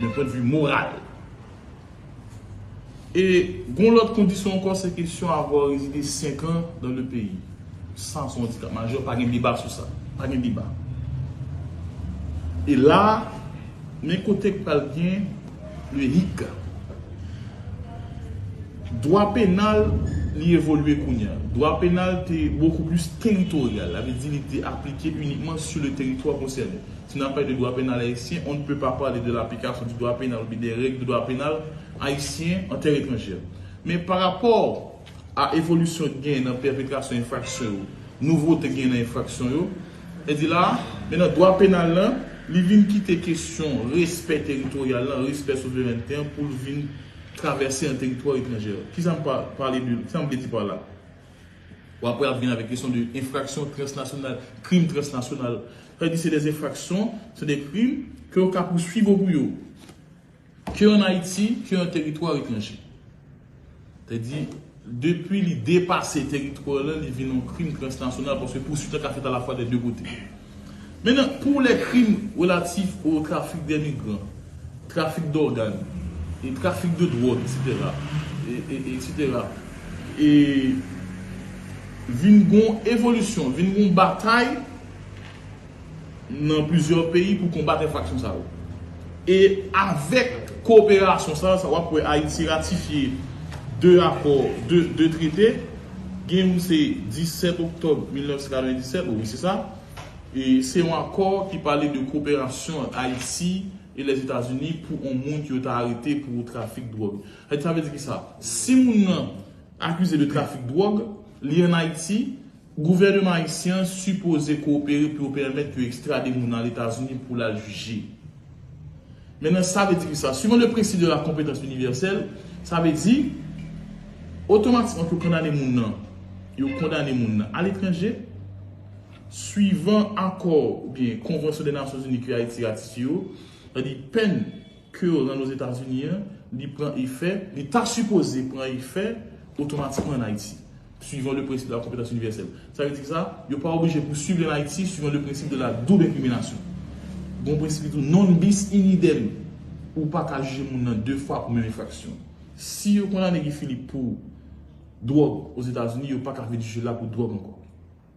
Men pwent vi moral. E gon lòt kondisyon ankò se kesyon avwa rezide 5 an dan le peyi. Sa son andikap majè, pa gen deba sou sa. Pa gen deba. E la, men kote k pral gen le hic. Dwa penal li evolye kounya. Dwa penal te bokou plis teritoryal. Sa vle di li te aplike inikman sou le teritwa konsène. Si nap pale de dwa penal ayisyen, on ne peut pas parler de l'application du droit pénal ou byen des règles de droit pénal haïtien en terre étrangère. Men pa rapò a evolisyon ki genyen nan pèpetrasyon enfraksyon yo, nouvote ki genyen nan enfraksyon yo, e di la a, men nan dwa penal lan, li vin kite kesyon respè teritoryal lan, respè souverènte an pou l vin travèse an teritwa etranjè. Ki sa m pa pale de, ki sa m vle di pa la? Ou apre ap vin avèk kesyon de enfraksyon transnasyonal, krim transnasyonal. Sa vle di se de enfraksyon, se de krim ke yo ka pouswiv ou pou yo. Ke an Ayiti, ke an teritwa etranje. Sa vle di, depi li depase teritwa lan, li vin yon krim transnasyonal paske pouswit lan ka fèt alafwa de de kote. Mennen, pou lè krim relatif o trafik de migran, trafik dògàn, e trafik de dwòg, eksetera, eksetera, e vin gon evolisyon, vin gon batay nan plizyè peyi pou konbat enfraksyon sa yo. E avèk koperasyon sa a, sa w ap wè Ayiti ratifye 2 akò, 2 trete, gen youn se 17 oktòb 1997, wi se sa, e se yon akò ki pale de koperasyon ant Ayiti e Lèzetazini pou yon moun ke yo ta arete pou trafik dwòg. Sa vle di ki sa? Si moun nan akize de trafik dwòg, li an Ayiti, Gouvèneman ayisyen an sipoze kowopere pou yo pèmèt yo ekstrade moun nan Etazini pou l al jije. Men nan sa vle di ki sa? Suivant le principe de la compétence universelle, sa vle di otomatikman ke yo kondane moun nan, yo kondane moun nan aletranje, suivant akò oubyen konvansyon dè Nasyonzini ke Ayiti ratifye yo, sa di pèn ke yo rann Ozetazini an, li pran efè, li ta sipoze pran efè otomatikman an Ayiti. Suivant le principe de la compétence universelle. Sa vle di kisa? Yo pa oblije pou suiv en Haïti suivant le principe de la double incrimination. Gon prensipi tou non bis in idem. Ou pa ka jije moun nan 2 fwa pou menm enfraksyon. Si yo kondane Guy Philippe pou dwòg Ozetazini, yo pa ka vin jije l la pou dwòg ankò.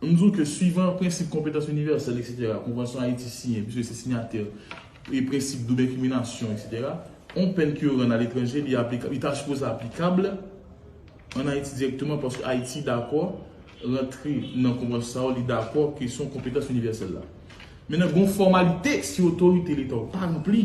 M di w ke swivan prensip konpetans inivèsèl eksetera konvansyon Ayiti siyen piske se sinyatè e prensip doub enkiminasyon eksetera, on pèn ke yo rann aletranje li aplikab, li ta sipoze aplikab an Ayiti dirèkteman paske Ayiti dakò rantre nan konvansyon sa yo, li dakò kesyon konpetans inivèsèl la. Mennen gen yon fòmalite si otorite leta w pa ranpli.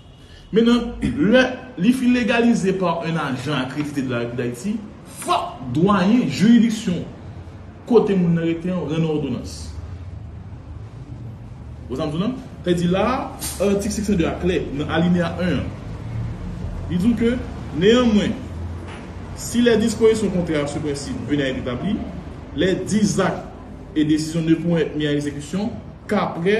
Men nan, lè li fin legalize pa un ajan akredite de la République d'Haïti, fòk dwayen jiridiksyon kote moun nan rete an rann òdonans. Wè sa m di w la? Sa vle di la a, atik 502 a klè nan alineya 1 an. Li di w ke, Neyanmwen, si lè dispozisyon kontrè a su prensip veni a èt etabli, lè di zak e desizyon ne pourront èt mi a ekzekisyon k'aprè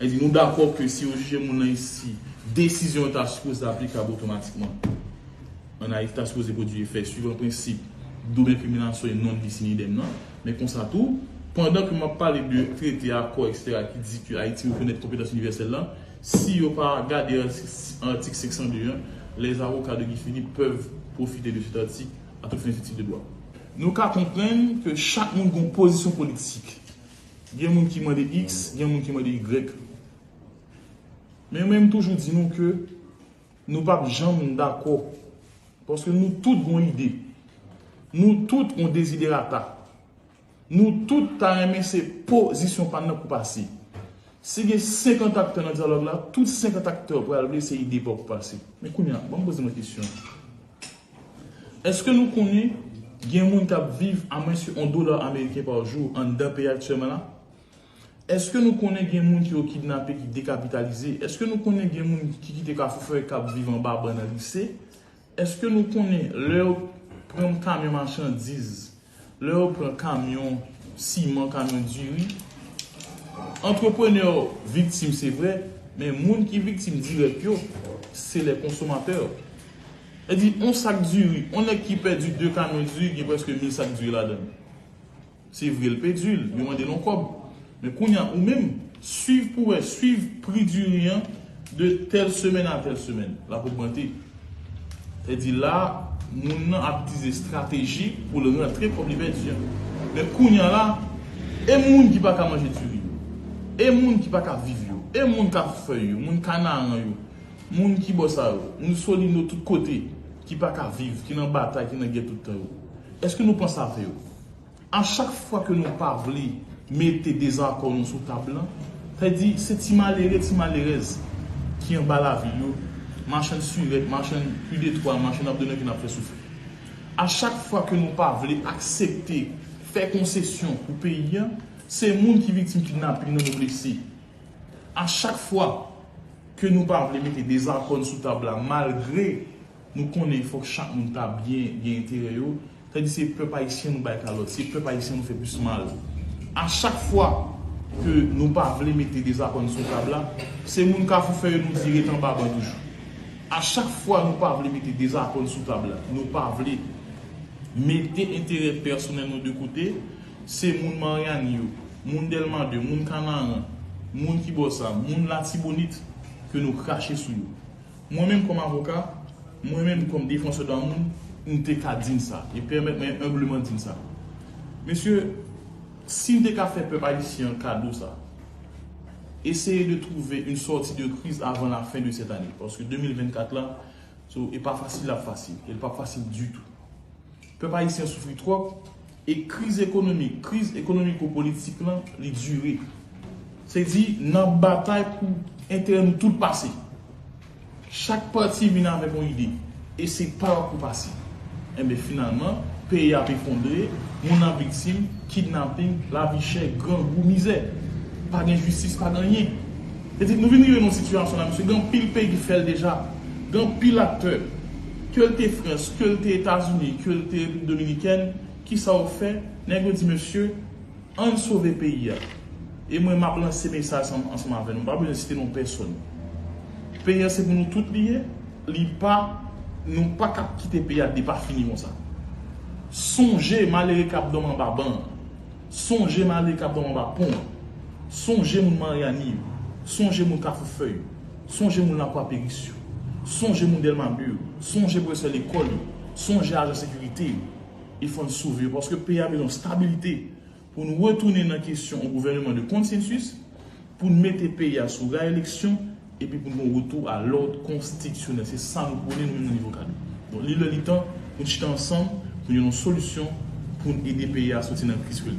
Edi, Nou dakò ke si yo jije moun nan isi, desizyon yo ta sipoze aplikab otomatikman ann Ayiti, ta sipoze pwodui efè, suivan prensip doub enkriminasyon e non bis in idem nan. Men konsa tou, pandan ke m ap pale de trete, akò, eksetera ki di ke Ayiti rekonèt konpetans inivèsèl lan, si yo pa gade atik 502 an, les avocats de Guy Philippe peuvent profiter de cet article à toutes fins utiles de droit. Nou ka konprann ke chak moun gen yon pozisyon politik. Gen moun ki mande X, gen moun ki mande Y. Men mwen m toujou di nou ke nou pa p janm dakò. Paske nou tout gon ide. Nou tout gon deziderata. Nou tout ta renmen se po zisyon pa n nan pou pase. Si gen 50 aktè nan dyalòg la, tout 50 aktè pral vle se ide pa w pou pase. Men kounye a, ban m poze mwen kesyon. Eske nou konnen gen moun kap viv a mwens ke 1 dola ameriken pa jou anndan peyi aktyèman la? Eske nou konnen gen moun ke yo kidnape ki dekapitalize? Eske nou konnen gen moun ki kite kafou forè kap viv anba ban nan lise? Eske nou konnen lè yo pran yon kamyon machandiz? Lè yo pran kamyon siman, kamyon diri, antreprenè yo viktim se vre, men moun ki viktim dirèk yo, se lè konsomatè yo. Sa di yon sak diri, yon nèg ki pèdi 2 kamyon diri gen prèske mil sak diri ladan l. Se vre l pèdi l, yo mande l yon kòb. Men kounya ou menm, swiv pou wè, swiv pri diri an de tèl semèn a tèl semèn, l ap ogmante. Fè di la, moun nan ap itize estrateji pou l rantre kòb li pèdi an. Men kounya la, e moun ki pa ka manje diri yo? E moun ki pa ka viv yo? E moun kafou fèy yo, moun kanaran yo, moun ki bò sa yo, moun solino tout kote, ki pa ka viv, ki nan batay, ki nan gè tout tan yo? Èske nou panse a fè yo? A chak fwa ke nou pa vle mete dezakò nou sou tab lan, sa vle di se ti malere, ti malerèz ki anba lavil yo, machann sirèt, machann pu de twa, machann abdonnè ke n ap fè soufri. A chak fwa ke nou pa vle aksepte fè konsesyon pou peyi an, se moun ki viktim kidnaping nan nou blese. A chak fwa ke nou pa vle mete dezakò n sou tab la malgre. Nou konnen fòk chak moun ta byen gen enterè yo, sa di se pèp ayisyen nou bay kalòt, se pèp ayisyen nou fè plis mal. A chak fwa ke nou pa vle mete dezakò n sou tab la, se moun kafou fè yo nou di ret anba ban toujou. A chak fwa nou pa vle mete dezakò n sou tab la, nou pa vle mete enterè pèsonèl nou de kote, se moun Maryani yo, moun Dèlma 2, moun Kanaran, moun ki bò sa, moun Latibonit ke nou krache sou yo. Mwen menm kòm avoka, mwen menm kòm defansè dwa moun, m te ka di n sa, e pèmèt mwen enbleman di n sa. Mesye, si n te ka fè pèp ayisyen an kado sa, eseye de trouve une sortie de crise avant la fin de cette année, paske 2024 la, e pa fasil l ap fasil, e l p ap fasil ditou. Pèp ayisyen an soufri twòp, E kriz ekonomik, kriz ekonomiko-politik lan, li dire. Se di, nan batay pou enterè nou tout pase. Chak pati vin avèk yon ide. E se pa yon kou pase. Enben finalman, peyi a ap efondre, moun ap viktim, kidnaping, lavi chè, grangou, mizè. Pa gen jistis, pa gen anyen. Li di, Nou vin rive nan yon sitiyasyon la, mesye, gen anpil peyi ki fè l deja. Gen anpil aktè, ke l te Frans, ke l te Etazini, ke l te Repiblik Dominikèn, ki sa yo fè? Nèg yo di, Mesye, an n sove peyi a. E mwen m ap lanse mesaj sa ansanm avè nou, m pa bezwen site non pèsòn. Peyi a se pou nou tout li ye, li pa, nou pa ka kite peyi a depafini konsa. Sonje malere k ap dòmi anba ban an. Sonje m ale kap dòm anba pon an. Sonje moun Maryani yo. Sonje moun Kafou Fèy yo. Sonje moun Lakwa Peris yo. Sonje moun Dèlma 2 yo. Sonje pwofesè lekòl yo. Sonje ajan sekirite yo. E fò n sove yo paske peyi a bezwen stabilite pou n retounen nan kesyon yon gouvèneman de konsensis Pou n mete peyi a sou ray eleksyon epi pou n gen yon retou a lòd konstitisyonèl. Se sa nou pwone nou menm nan Nivo Kado. Donk li lè li tan pou n chita ansanm pou n jwenn yon solisyon pou n ede peyi a soti nan kriz ke l.